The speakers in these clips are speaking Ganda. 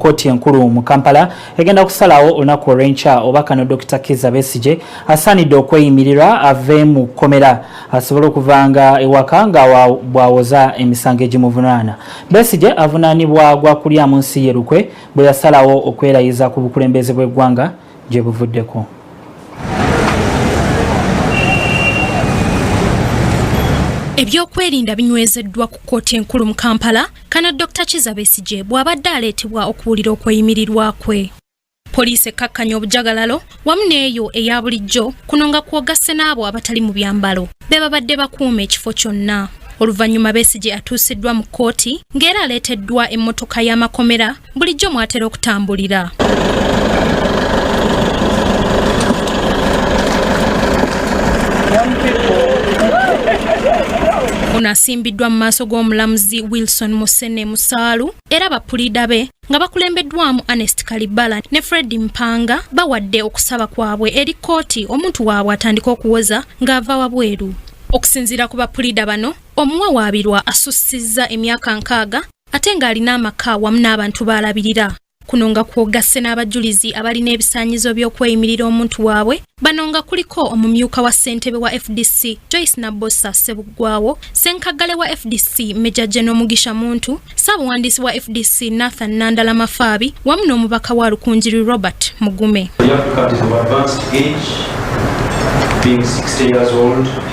kkooti enkulu mu kampala egenda kusalawo olunaku olwenkya oba kano dr kiza besigye asaanidde okweyimirirwa ave mu kkomera asobole okuva nga ewaka nga bwawoza emisango egimuvunaana besigye avunaanibwa gwa kulyamu nsi ye lukwe bwe yasalawo okwerayiza ku bukulembeze bw'eggwanga gye buvuddeko ebyokwerinda binywezeddwa ku kkooti enkulu mu kampala kana dr kiza besigye bw'abadde aleetebwa okuwulira okweyimirirwa kwe poliisi ekkakkanya obujagalalo wamu n'eyo eya bulijjo kuno nga kwogasse n'abo abatali mu byambalo be babadde bakuuma ekifo kyonna oluvannyuma besigye atuusiddwa mu kkooti ng'era aleeteddwa emmotoka y'amakomera bulijjo mwatera okutambulira ono asimbiddwa mu maaso g'omulamuzi wilson musene musaalu era bapuliida be nga bakulembeddwamu anest kalibala ne fred mpanga bawadde okusaba kwabwe eri kkooti omuntu waabwe atandika okuwoza ng'ava wabweru okusinziira ku bapuliida bano omuwawaabirwa asussizza emyaka nkaaga ate ng'alina amaka wamu n'abantu baalabirira kuno nga kwogasse n'abajulizi abalina ebisaanyizo by'okweyimirira omuntu waabwe bano nga kuliko omumyuka wa ssentebe wa fdc joyce nabbosa ssebuggwawo ssenkaggale wa fdc meja geno mugisha muntu ssaabuwandiisi wa fdc nathan nandala mafaabi wamu n'omubaka wa lukunjiri robert mugume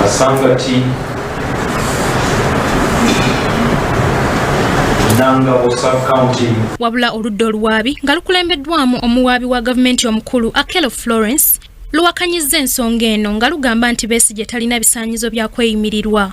kasangati wabula oludda oluwaabi nga lukulembeddwamu omuwaabi wa gavumenti omukulu akelo florence luwakanyizza ensonga eno nga lugamba nti besi gye talina bisaanyizo bya kweyimirirwa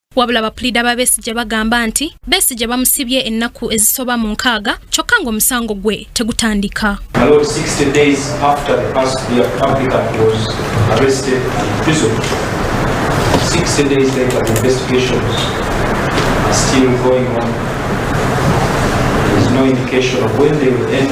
Wabula bapuliida ba Besigye bagamba nti Besigye bamusibye ennaku ezisoba mu nkaaga kyokka ng'omusango gwe tegutandika. Still going on. There's no indication of when they will end.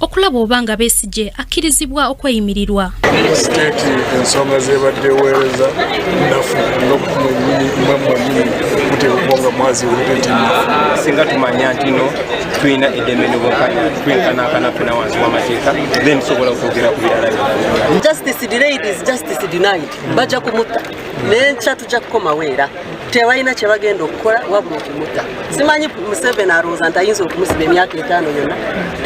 okulaba oba nga besigye akkirizibwa okweyimirirwa siteeti ensonga zebadde eweereza nafu ngamunyini muteekwa nga mwazi singa tumanya nti no tulina eddembe nobukanya twenkanankana fena wansi wamateeka then tusobola okwogera ku birala justice delayed is justice denied bajja kumutta nenkya tujja kukomawo era tebalina kyebagenda okukola wabula okumuta simanyi museveni alowooza nti ayinza okumusiba emyaka etaano yona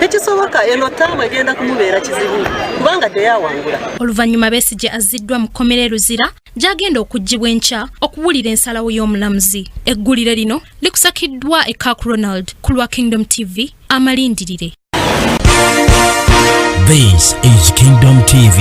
tekisoboka eno taamu egenda kumubeera kizibu kubanga teyawangula oluvannyuma besigye azziddwa mu kkomera e luzira gy'agenda okuggyibwa enkya okuwulira ensalawo y'omulamuzi eggulire lino likusakiddwa e kak ronald ku lwa kingdom tv amalindirire This is Kingdom TV.